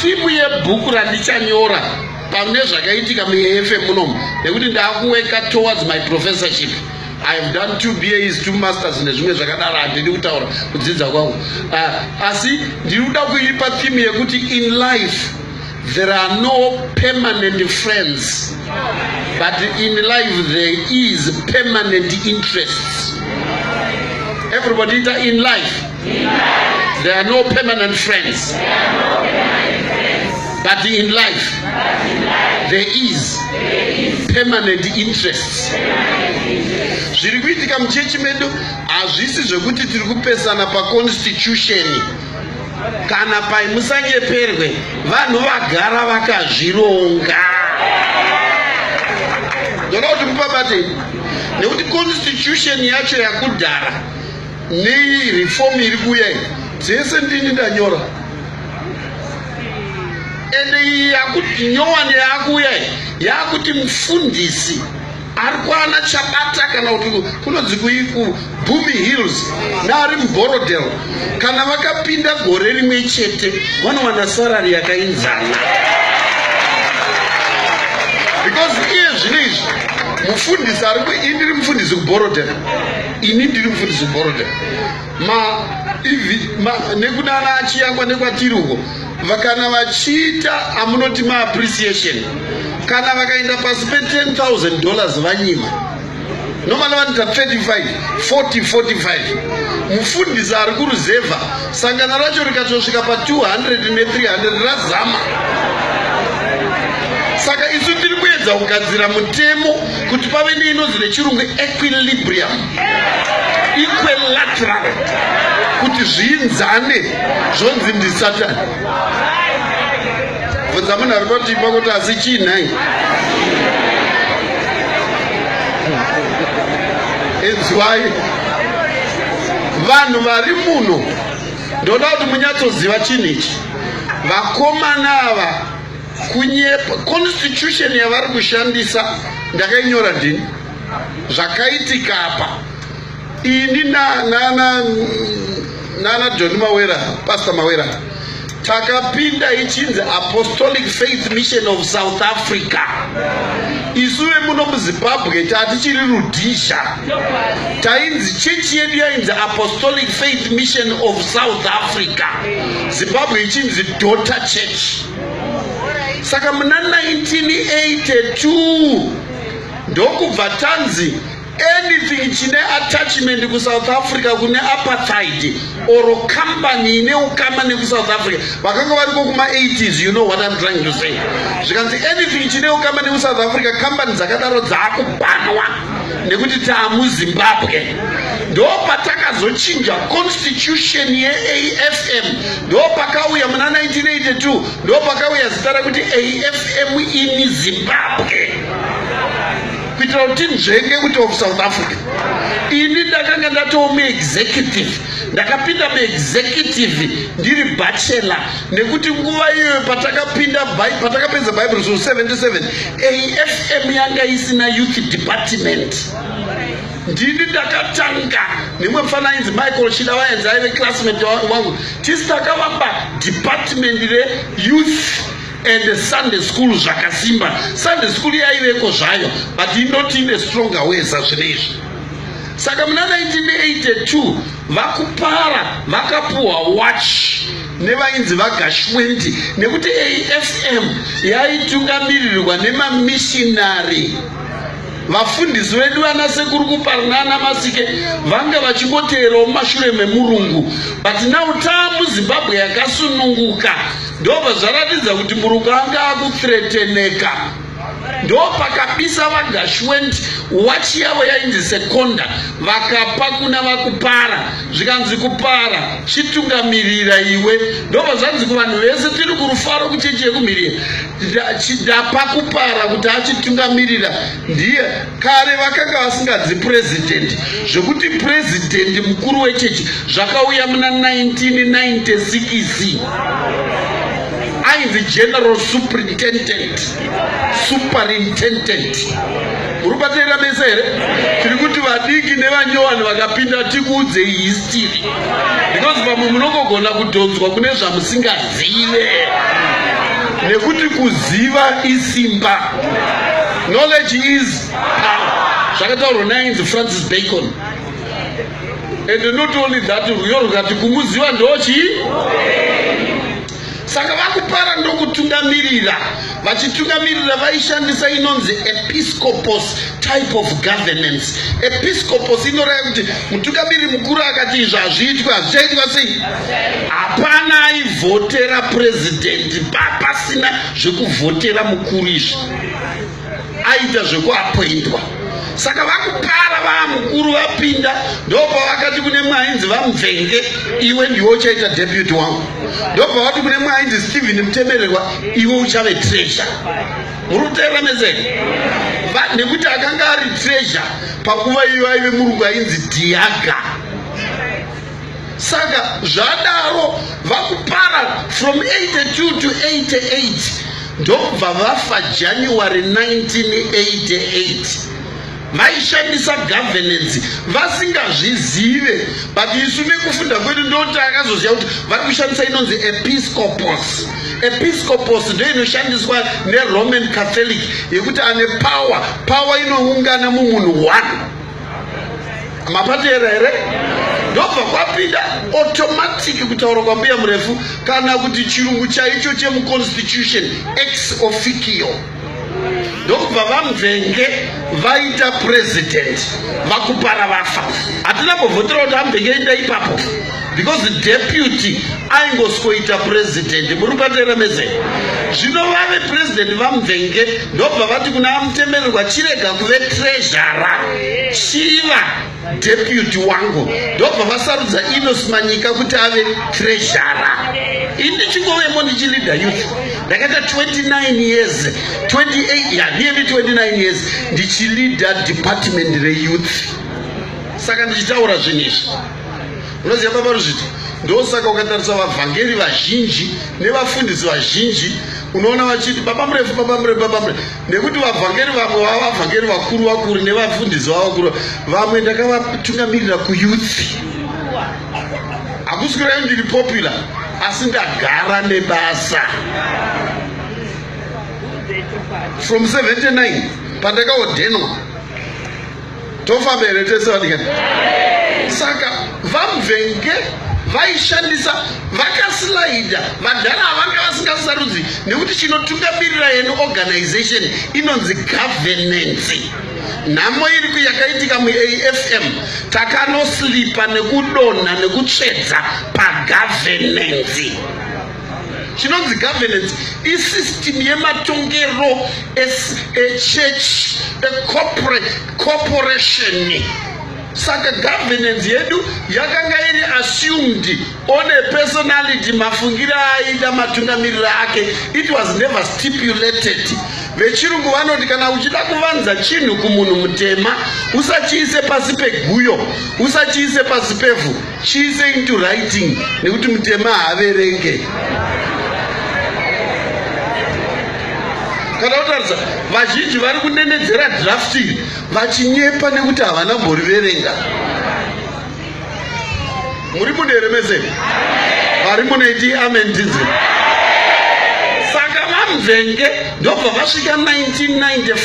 Simu yebhuku randichanyora pane zvakaitika muAFM munomu nekuti ndakuweka towards my professorship. I have done two BAs, two masters nezvimwe zvakadaro handidi kutaura kudzidza kwangu. Uh, asi ndiri kuda kuipa theme yekuti in life there are no permanent friends but in life there is permanent interests. Everybody in life There are no permanent friends. But in life, there is permanent interests. Zviri kuitika muchechi medu hazvisi zvekuti tiri kupesana paconstitution kana pai musanyeperwe vanhu vagara vakazvironga ndoda kuti mupabate nekuti constitution yacho yakudhara Nei reform iri kuuya iyi dzese ndini ndanyora ende iyi yakuti nyowani yaakuuya iyi yaakuti mufundisi ari kwana chabata kana kuti kunonzi kuiku bumi hills naari muborodel kana vakapinda gore rimwe chete vanowana sarari yakainzana because iye zvino izvi mufundisi ari indiri mufundisi kuborodel ini ndiri mufundisi gorodha ma ivi ma nekudana achiyangwa nekwatiri uko vakana vachiita amunoti ma appreciation kana vakaenda pasi pe 10000 dollars vanyima nomana vanoita 35 40 45 mufundisi ari kuruzevha sangano racho rikatosvika pa 200 ne 300 razama saka isu tiri kuedza kugadzira mutemo kuti pave neinonzi nechirungu equilibrium equilateral kuti zviinzane zvonzi ndisatani bvunza munhu ari patii pakuti asi chii nhai inzwai vanhu vari muno ndoda kuti munyatsoziva chinhu ichi vakomana ava kunyepa constitution yavari kushandisa ndakainyora ndini zvakaitika apa ini nana nana john mawera pastor mawera takapinda ichinzi apostolic faith mission of south africa isu vemuno muzimbabwe tatichiri rudhisha tainzi chechi yedu yainzi apostolic faith mission of south africa zimbabwe ichinzi daughter church saka muna 1982 ndokubva tanzi anything chine attachment kusouth africa kune apartheid or company ine ukama nekusouth africa vakanga variko kuma 80s you know what im trying to say zvikanzi anything chine ukama nekusouth africa company dzakadaro dzaakubanwa nekuti taamuzimbabwe ndo patakazochinja constitution yeafm ndopakauya muna 1982 ndopakauya zita rekuti afm in zimbabwe kuitira kuti nzvenge kuti of south africa ini ndakanga ndatoo muexecutive ndakapinda muexecutive ndiri bachelor nekuti nguva iyoyo patakapinda patakapedza bible zvo 77 afm yanga isina youth department ndini ndakatanga nemwe mfana ainzi michael chida vaenzi aive classmate wangu tisi takavamba department reyouth and sunday school zvakasimba sunday school yaiveko zvayo but inoti ine stronger weza zvine izvi saka muna 1982 vakupara vakapuhwa watch nevainzi vagashwendi nekuti afm yaitungamirirwa nemamishinari vafundisi vedu vana sekuru kuparna ana masike vanga vachingoteerawo mumashure memurungu but now tamu zimbabwe yakasununguka ndobva zvaratidza kuti murungu anga akuthreteneka ndopakabisa vagashwent wachi yavo yainzi sekonda vakapa kuna vakupara zvikanzi kupara chitungamirira iwe ndobva zvanzi kuvanhu vese tiri kurufaro kuchechi yekumhiriye chidapa kupara kuti achitungamirira ndiye kare vakanga vasingadzi purezidhendi zvekuti purezidhendi mukuru wechechi zvakauya muna 1996 ainzi general superintendent superintendent Uri kubatsirika mese here? Tiri kuti vadiki nevanyowani vakapinda tikuudzei history because vamwe munongogona kudhonzwa kune zvamusingazive nekuti kuziva isimba knowledge is power zvakataurwa nainzi francis bacon and not only that rwiyo rukati kumuziva ndochii saka vakupara ndokutungamirira vachitungamirira vaishandisa inonzi episcopos type of governance episcopos inoraya kuti mutungamiri mukuru akati izvo hazviitwe hazvichaitwa sei hapana aivhotera purezidenti papasina zvekuvhotera mukuru izvi aita zvekuapoindwa saka vakupara vaamukuru vapinda ndopavakati kune mwainzi vamvenge iwe ndiwe uchaita deputy wangu ndopavati kune mwainzi stephen mutemererwa iwe uchave treasure muri kuteerera mezeni nekuti akanga ari treasure panguva iyo aive murungu ainzi diaga saka zvadaro vakupara from 82 to 88 ndokubva vafa january 1988 vaishandisa governance vasingazvizive but isu nekufunda kwedu ndoti akazoziva kuti vari kushandisa inonzi episcopos episcopos ndo inoshandiswa neroman catholic yekuti ane power power inoungana mumunhu one mapateera here ndobva kwapinda automatic kutaura kwambuya murefu kana kuti chirungu chaicho chemuconstitution ex officio ndokubva vamvenge vaita president vakupara vafa hatina kuvhotera kuti amvenge ita ipapo because deputy aingosikoita president muri kubatera mese zvino vave president vamuvenge ndobva vati kuna amutemererwa chirega kuve trezhara chiva deputy wangu ndobva vasarudza inos manyika kuti ave trezhara ini ndichingovemo ndichilida youth ndakaita 29 years 28 ya ndiye ndi 29 years ndichilida department reyouth saka ndichitaura zvinhu izvi unoziva baba ruzviti ndosaka ukatarisa vavhangeri vazhinji nevafundisi vazhinji unoona vachiti baba murefu baba murefu baba murefu nekuti vavhangeri vamwe vava vavhangeri vakuru vakuru nevafundisi vava vakuru vamwe ndakavatungamirira kuyuthi hakusi kureva ndiri popular asi ndagara nebasa from 79 pandakaodhenwa tofamba here tese vadikani saka vamvenge vaishandisa vakasilaida vadhara avanga vasingasarudzi nekuti chinotungamirira yenu organization inonzi governance nhamo iri kuyakaitika muafm takanoslipa nekudonha nekutsvedza pagovernance chinonzi governance isystem yematongero echurch ecorporation saka governance yedu yakanga iri assumed on a personality mafungiro aida matungamiriro ake it was never stipulated vechirungu vanoti kana uchida kuvanza chinhu kumunhu mutema usachiise pasi peguyo usachiise pasi pevhu chiise into writing nekuti mutema haaverenge kana kutaridza vazhinji vari kunenedzera draft iri vachinyepa nekuti havana mboriverenga muri muneremeseni vari munoiti amen tinzi saka vamvenge ndobva vasvika 1995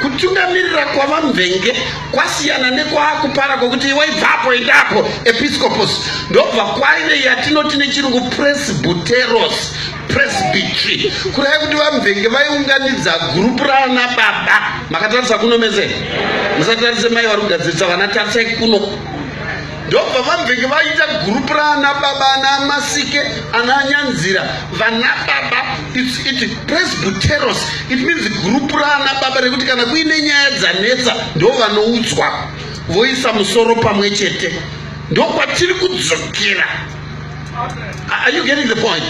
kutungamirira kwavamvenge kwasiyana nekwaakupara kwokuti iwe ibvapo endapo episcopos ndobva kwaive yatinoti nechirungu presbuteros presbytry kuraya kuti vamvenge vaiunganidza gurupu raana baba makatarisa kuno mese musatarise mai vari kugadzirisa vana tarisai kuno ndobva vabvenge vaita gurupu raana baba ana masike ana nyanzira vana baba its it presbyteros it means gurupu raana baba rekuti kana kuine nyaya dzanetsa ndo vanoudzwa voisa musoro pamwe chete ndokwatiri kudzokera are you getting the point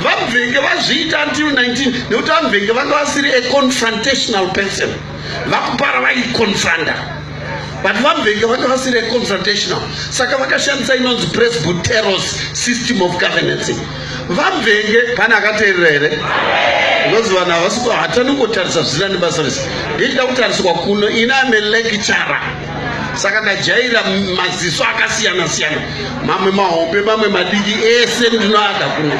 vabvenge vazviita until 19 nekuti vabvenge vanga vasiri a confrontational person vakupara vaiconfronta but vamvenga vanga vasiri confrontational saka vakashandisa inonzi presbyteros system of governance vamvenge pane akateerera here because vanhu havasi hatani kutarisa zvisina nebasa rese ndichida kutariswa kuno ini ame lecturer saka ndajaira maziso akasiyana siyana mamwe mahombe mamwe madiki ese ndinoada kuno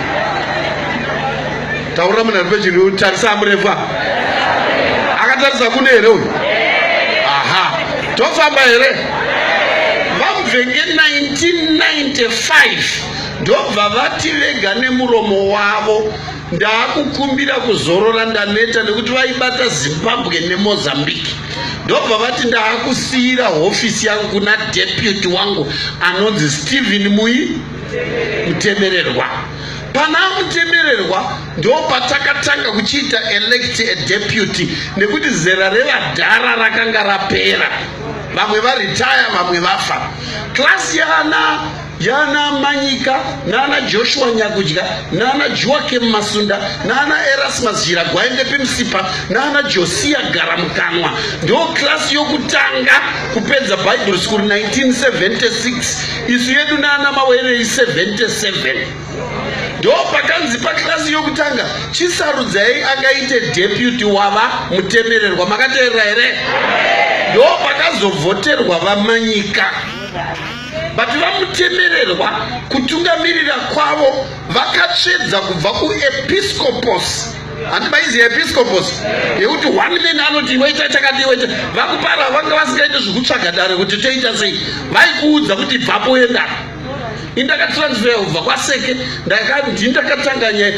taurira munhu ari pechiri tarisa amurefa akatarisa kune here uyu aha tofamba here vamuvenge 1995 ndobva vati vega nemuromo wavo Ndaakukumbira kuzorora ndaneta nekuti vaibata Zimbabwe neMozambique ndobva vati ndaakusiyira hofisi yangu kuna deputy wangu anonzi Stephen Muyi Mutemererwa. Pana Mutemererwa ndopatakatanga kuchiita elect a deputy nekuti zera revadhara rakanga rapera vamwe varitaya vamwe vafa klasi yaana yana Manyika nana Joshua Nyakudya nana Joakim Masunda nana Erasmus Jira Gwaende Pimsipa nana Josia Garamukanwa ndo klasi yokutanga kupedza Bible School 1976 isu yedu nana Mawerei 77 ndo pakanzi paklasi yokutanga chisarudzai akaite deputy wava mutemererwa makateerera here ndo pakazovhoterwa vamanyika but vamutemererwa kutungamirira kwavo vakatsvedza kubva kuepiscopos handi maizi episcopos yekuti one man anoti iweita chakati iweita vakupara vanga vasingaite zvekutsvaga dare kuti toita sei vaikuudza kuti bvapo enda indakatransfera kubva kwaseke ndakandindakatanganya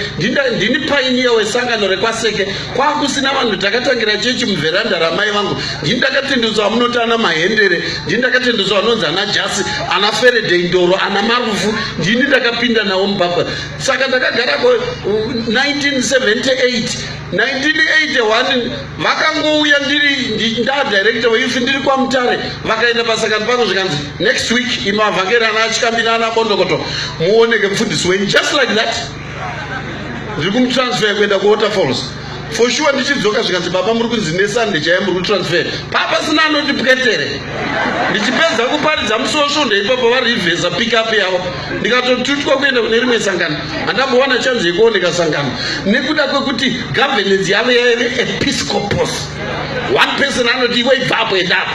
ndini painiya wesangano rekwaseke kwakusina vanhu takatangira chechi muvheranda ramai vangu ndini ndakatendeutswa vamunoti ana mahendere ndini ndakatendeutswa vanonzi ana jasi ana feredei ndoro ana marufu ndini ndakapinda nawo mubhabha saka ndakagara ko 1978 1981 vakangouya ndiri ndadirector veifi ndiri kwamutare vakaenda pasakani pangu zvikanzi next week imavhangeri ana achikambi naana bondokoto muoneke mfundisi wenyu just like that ndiri kumutransfer kuenda kuwaterfalls for sure ndichidzoka zvikanzi baba muri kunzi nesunday chaiye muri kutransfer papasina anoti pwetere ndichipedza kuparidza musosvondo ipapo varivhesa pickup yavo ndikatotutwa kuenda kune rimwe sangano handambowana chanzi yekuoneka sangano nekuda kwekuti governance yavo yaive episcopos one person anoti ivo ibvapo endapo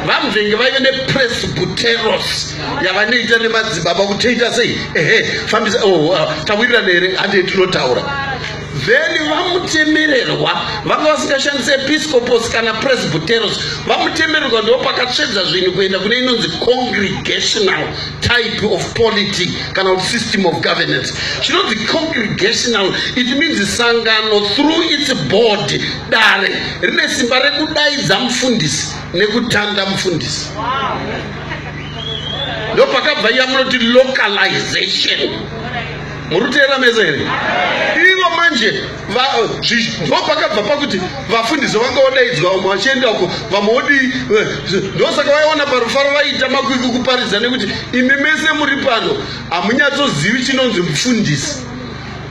vamvenge vaive nepresbuteros yavanoita nemadzibaba kuti toita sei ehe fambisa oh, uh, tawirirana here handei tinotaura then vamutemererwa vanga vasingashandisi episcopos kana presbyteros vamutemererwa ndo pakatsvedza zvinhu kuenda kune inonzi congregational type of polity kana kuti system of governance chinonzi congregational it means sangano through its board dare rine simba rekudaidza mufundisi nekutanda mufundisi wow. ndopakabva iya munoti localization muri kuteera mese here ivo manje ndopakabva pakuti vafundisi vanga vodaidzwa vamwe vachienda uko vamwe vodii eh, ndosaka vaiona parufaro vaiita makwikwi kuparidza nekuti imi mese muri pano hamunyatsozivi chinonzi mufundisi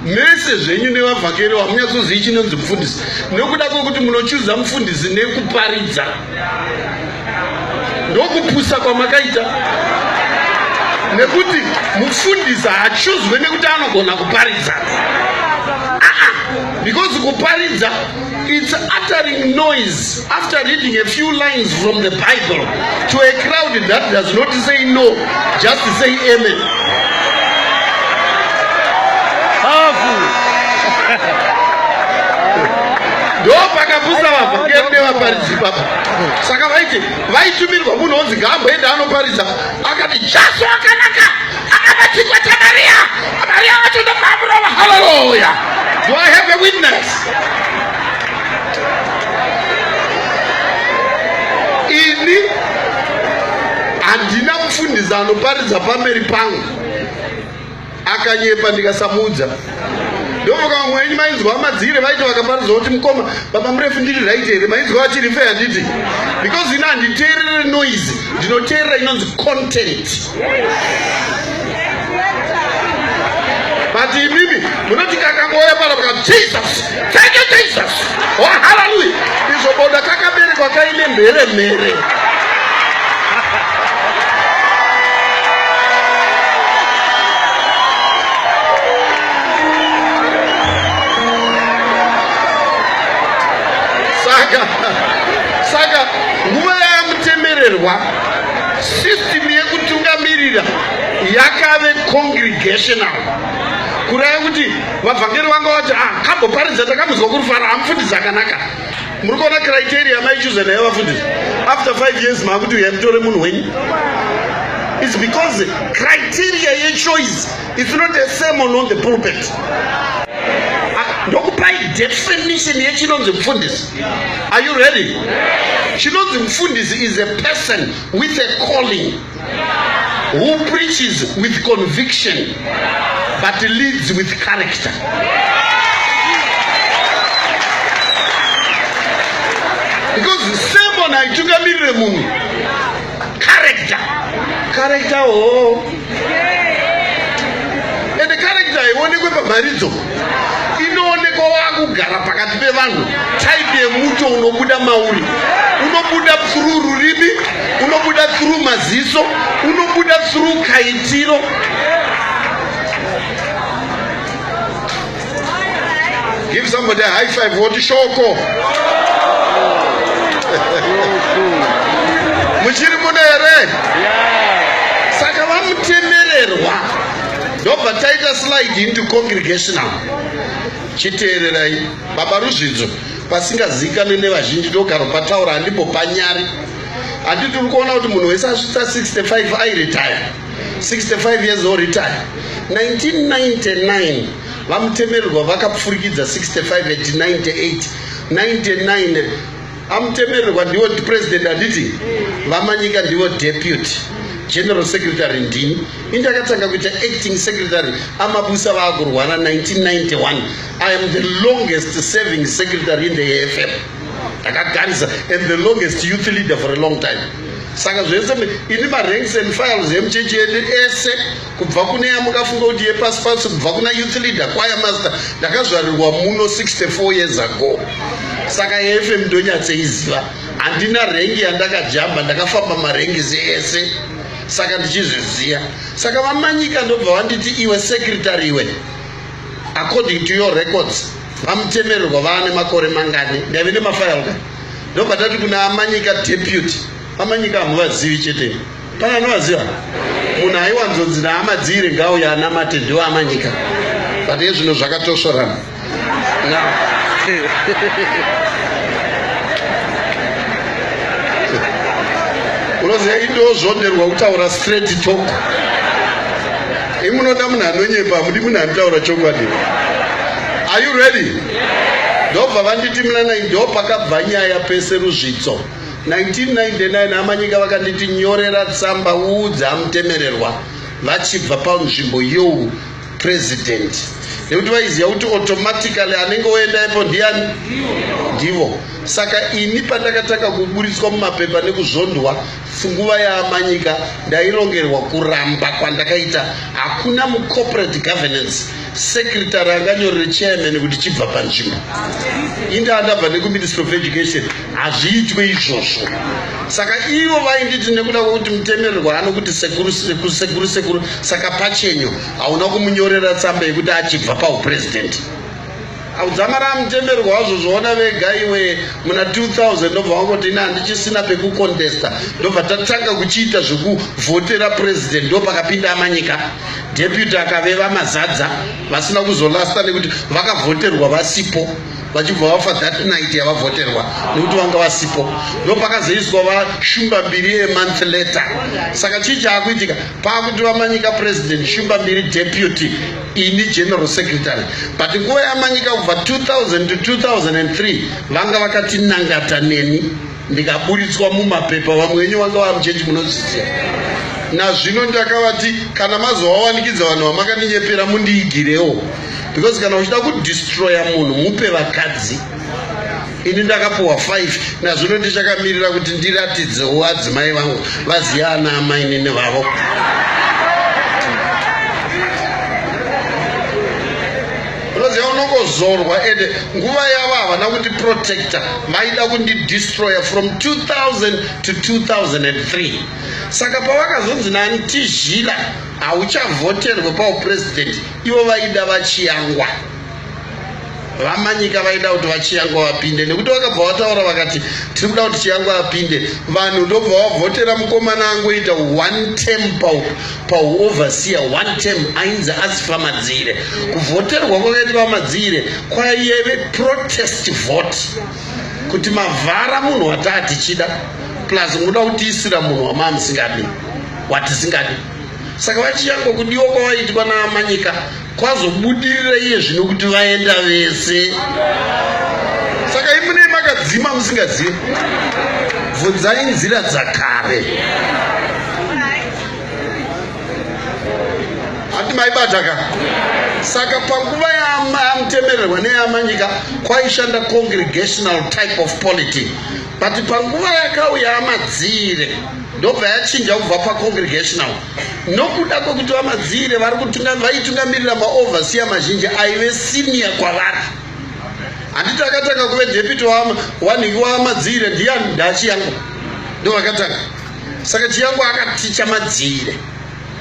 mese zvenyu nevavhakeri vamunyatsozivi chinonzi mufundisi nokuda kwekuti munochuza mufundisi nekuparidza ndokupusa kwamakaita nekuti mufundisi haachuzwe nekuti anogona kuparidza aa because kuparidza It's uttering noise after reading a few lines from the Bible to a crowd that does not say no, just say amen. Powerful. ndopakapusa vabva kuyende vaparidzi papa saka vaiti vaitumirwa munhu onzi ngaamboenda anoparidza akati jaso akanaka Another teacher to Maria. Maria went to the power of hallelujah. Do I have a witness? Ini handina mufundisi anoparidza pamberi pangu akanyepa ndikasamuudza ndovoka vamwe wenyu mainzwa madzire vaiti vakaparidza kuti mukoma baba murefu ndiri right here mainzwa vachiri fe handiti because ini handiteerere noise ndinoteerera inonzi content But imimi munoti kakangouya pano ka Jesus. Thank you Jesus. Oh hallelujah. Izvo boda kakaberekwa kaine mhere mhere. Saka saka nguva yamutemererwa System yekutungamirira yakave congregational kuraya kuti vavhangeri vanga vati ah, kamboparidza takamuzwa kurufara amufundisi akanaka muri kuona criteria maichuza naye vafundisi after five years maakuti uya mutore munhu wenyu is because criteria yechoice is not the same on, on the pulpit ndokupai definition yechinonzi mfundisi are you ready chinonzi mufundisi is a person with a calling who preaches with conviction but leads with character because sermon haitungamirire munhu character character hoo ende character haionekwe pamharidzo inoonekwa wakugara pakati pevanhu type yemucho unobuda mauri unobuda through rurimi unobuda through maziso unobuda through kaitiro Give somebody a high five woti shoko. Muchiri muno here? Saka vamutemererwa ndobva taita slide into congregational. Chiteererai baba Ruzvidzo pasingazivikanwe nevazhinji ndogaro pataura handimbo panyari. Handiti uri kuona kuti munhu wese asvitsa 65 airetire. 65 years old retire 1999 vamutemererwa vakapfurikidza 65 at 98 99 amutemererwa ndivo president handiti vamanyika ndivo deputy general secretary ndini indakatanga kuita acting secretary amabusa vaakurwara 1991 i am the longest serving secretary in the afm ndakagarisa and the longest youth leader for a long time saka zvese ini maranks and files emuchechi yedu ese kubva kune yamukafunga kuti yepasi pasi kubva kuna youth leader kwaya master ndakazvarirwa muno 64 years ago saka yefm ndonyatseiziva handina rengi yandakajamba ndakafamba marengisi ese saka ndichizviziva saka vamanyika ndobva vanditi iwe secretary iwe according to your records vamutemererwa vaane makore mangani ndaive nemafayal ka ndobatati kuna amanyika deputy amanyika hamuvazivi chete pane anovaziva munhu aiwanzonzi naamadziire ngao yaanamate ndiwo amanyika but ezvino zvakatosvorana unoziva indozvonderwa kutaura straight talk Imi munoda munhu anonyepa, hamudi munhu anotaura chokwadi. Are you ready? Ndobva vanditi muna nai ndopakabva nyaya pese ruzvitso. 1999 amanyika vakanditi nyorera tsamba uudze amutemererwa vachibva panzvimbo you president nekuti vaiziva kuti automatically anenge oenda ipo ndiani ndivo saka ini pandakatanga kuburitswa mumapepa nekuzvondwa Funguva yaamanyika ndairongerwa kuramba kwandakaita hakuna mucorporate governance secretary anganyorere chairman kuti chibva panzvimbo indaa ndabva nekuministry of education hazviitwe izvozvo saka ivo vainditi nekuda kwekuti mutemererwa anokuti sekuru sekuru sekuru sekuru saka pachenyu hauna kumunyorera tsamba yekuti achibva pauprezidenti Audzamara mutemberi wazvo zvoona vega iwe muna 2000 ndobva wangoti ini handichisina pekucontesta ndobva tatanga kuchiita zvekuvhotera president ndo pakapinda amanyika deputy akaveva mazadza vasina kuzolasta nekuti vakavhoterwa vasipo vachibva vafa that night yavavhoterwa nekuti vanga vasipo ndo pakazoiswa vashumba mbiri yemonth letter saka chii chaakuitika paakuti vamanyika president shumba mbiri deputy ini general secretary but nguva yamanyika kubva 2000 to 2003 vanga vakatinangata neni ndikaburitswa mumapepa vamwe venyu vanga vava muchechi munozviziva nazvino ndakavati kana mazovawanikidza vanhu vamakatinyepera mundiigirewo because kana uchida kudistroya munhu mupe vakadzi ini ndakapuwa 5 nazvino ndichakamirira kuti ndiratidzewo adzimai vangu vaziva ana amainini vavo unoziva unongozorwa ende nguva yavo havana kuti protector vaida kundidestroyer from 2000 to 2003 saka pavakazonzi nani tizhila hauchavhoterwe pauprezidenti ivo vaida vachiyangwa vamanyika vaida kuti vachiyangwa vapinde nekuti vakabva vataura vakati tiri kuda kuti chiyangwa vapinde vanhu ndobva vavhotera mukomana angoita one term pauoverseer one term ainzi asi vamadzire kuvhoterwa kwakaita vamadzire kwaive protest vote kuti mavhara munhu wataa tichida plus munoda kutiisira munhu wamaa musingadi watisingadi saka vachiyangwa kudiwa kwavaitwa naamanyika Kwazobudirira iye zvino kuti vaenda vese. Saka imune makadzima musingazive. Bvunzai nzira dzakare. Hati maibata ka? Saka panguva yamutemererwa neyamanyika kwaishanda congregational type of polity. But panguva yakauya amadziire ndobva yachinja kubva pacongregational. nokuda kwekuti vamadziire vari vaitungamirira maovhasiya mazhinji aive siniya kwavari handiti akatanga kuve depiti wanhingi wamadziire ndiyani ndachiyangwa ndo vakatanga saka chiyangwa akaticha madziire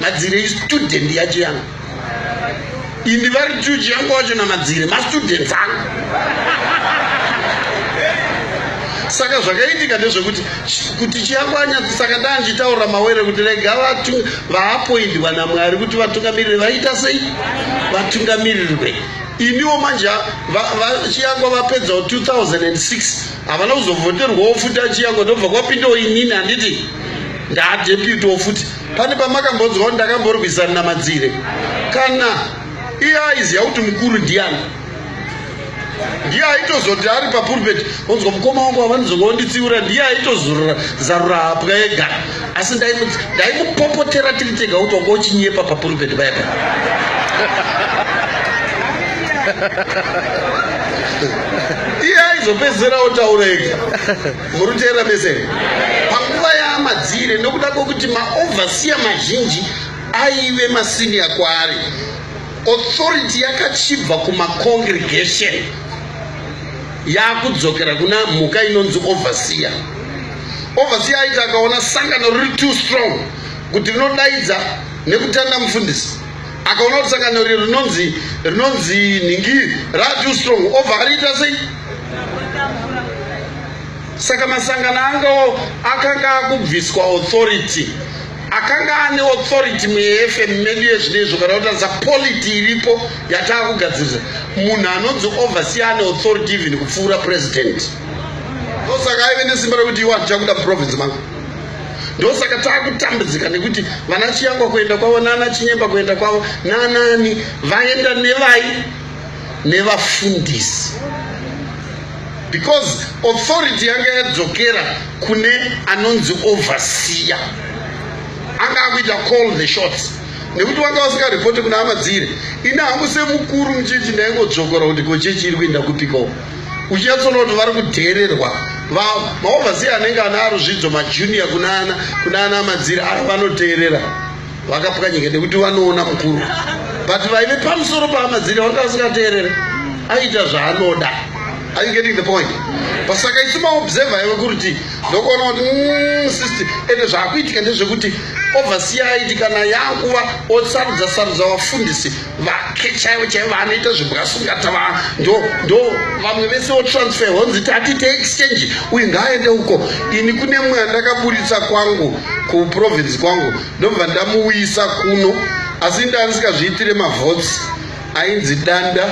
madziire istudent yachiyangwa ini vari juji yangu wacho namadzire mastudents angu saka zvakaitika ndezvekuti kuti chiyakwanya saka ndaa ndichitaurira mawere kuti rega vaapoindwa namwari kuti vatungamirire vaita sei vatungamirirwe iniwo manje chiyangwa vapedzawo 2006 havana kuzovhoterwawo futi achiyangwa ndobva kwapindawo inini handiti ndaadeputewo futi Pane pamakambonzwa kuti ndakamborwisana naMadzire kana iye aiziva kuti mukuru ndiani ndiye aitozoti ari papulpet onzwa mukoma wangu wavanizonga wanditsiura ndiye aitozarura hapwa ega asi ndaimupopotera tiri tega kuti wanga uchinyepa papulpet paipa iye aizopedzisira otaura ega muri kuteerera mese here panguva yaamadzire nokuda kwekuti maovhasiya mazhinji aive masiniya kwaari authority yakachibva kumacongregation yaakudzokera kuna mhuka inonzi overseer overseer aiti akaona sangano riri too strong kuti rinodaidza nekutanda mufundisi akaona kuti sangano iri rinonzi rinonzi nhingi ratoo strong obva ariita sei saka masangano angawo akanga akubviswa authority akanga ane authority muefm medu yezvino izvo kana kutarisa polity iripo yataa kugadzirisa munhu anonzi oversee ane authority even kupfuura president ndosaka aive nesimba rekuti iwa ndichakuda muprovince mangu ndosaka takutambudzika nekuti vana chiyangwa kuenda kwavo nana chinyemba kuenda kwavo nanani vaenda nevai nevafundisi because authority yanga yadzokera kune anonzi overseer anga akuita call the shots nekuti wanga wasingaripoti kuna hama dziri ini hangu semukuru muchechi ndaingodzvokora kuti kochechi iri kuenda kupikawo uchinyatsona kuti vari kudheererwa maovhasiya anenge ana aruzvidzo majuniya kunana kunana madziri ari vanoteerera vakapwanyika nekuti vanoona mukuru but vaive pamusoro paamadziri vanga vasingateerere aiita zvaanoda are you getting the point pasaka isu maobserver iwe kuriti ndokuona kuti mm, sisti ende zvaakuitika ndezvekuti ovhasiya aiti kana yakuva osarudza sarudza vafundisi vake chaivo chaivo vanoita zvebwasungata va ndo ndo vamwe vese wotransfer honzi tatite exchange uyu ngaaende uko ini kune mweya ndakaburitsa kwangu kuprovince kwangu ndobva ndamuuyisa kuno asi ndandisikazviitire mavots ainzi danda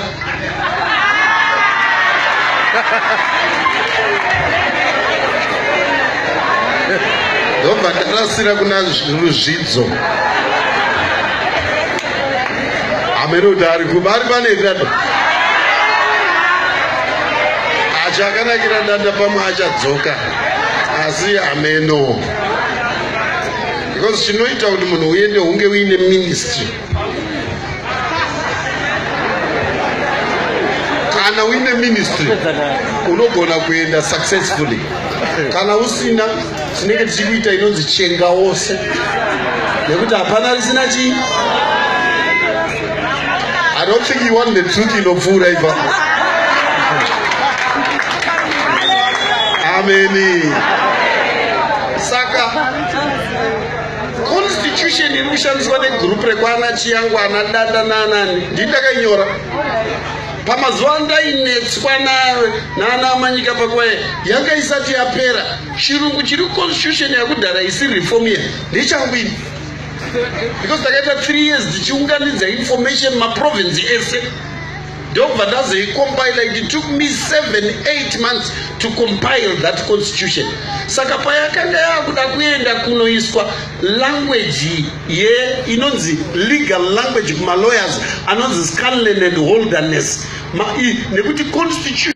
ndobva ndarasira kuna ruzvidzo amene kuti ari kuba ari pane ndanda acho akanakira ndanda pamwe achadzoka asi ameno because chinoita kuti munhu uende hunge uine ministry kana uine ministry unogona kuenda successfully kana usina tinenge tichikuita inonzi chenga wose nekuti hapana risina chii i don't think you want the truth inopfuura ipa ameni saka constitution iri kushandiswa negroup rekwana chiyangu ana danda naanani ndii ndakainyora pamazuva ndainetswa nayo naana amanyika pakuva yanga isati yapera chirungu chiri constitution yakudhara isi reform ye ndechangwini because takaita three years tichiunganidza information maprovince ese ndokubva ndazoicompile it took me seven eight months to compile that constitution saka payakanga yakuda kuenda kunoiswa language ye inonzi legal language kumalawyers anonzi scanlan and holdernes nekuti constitution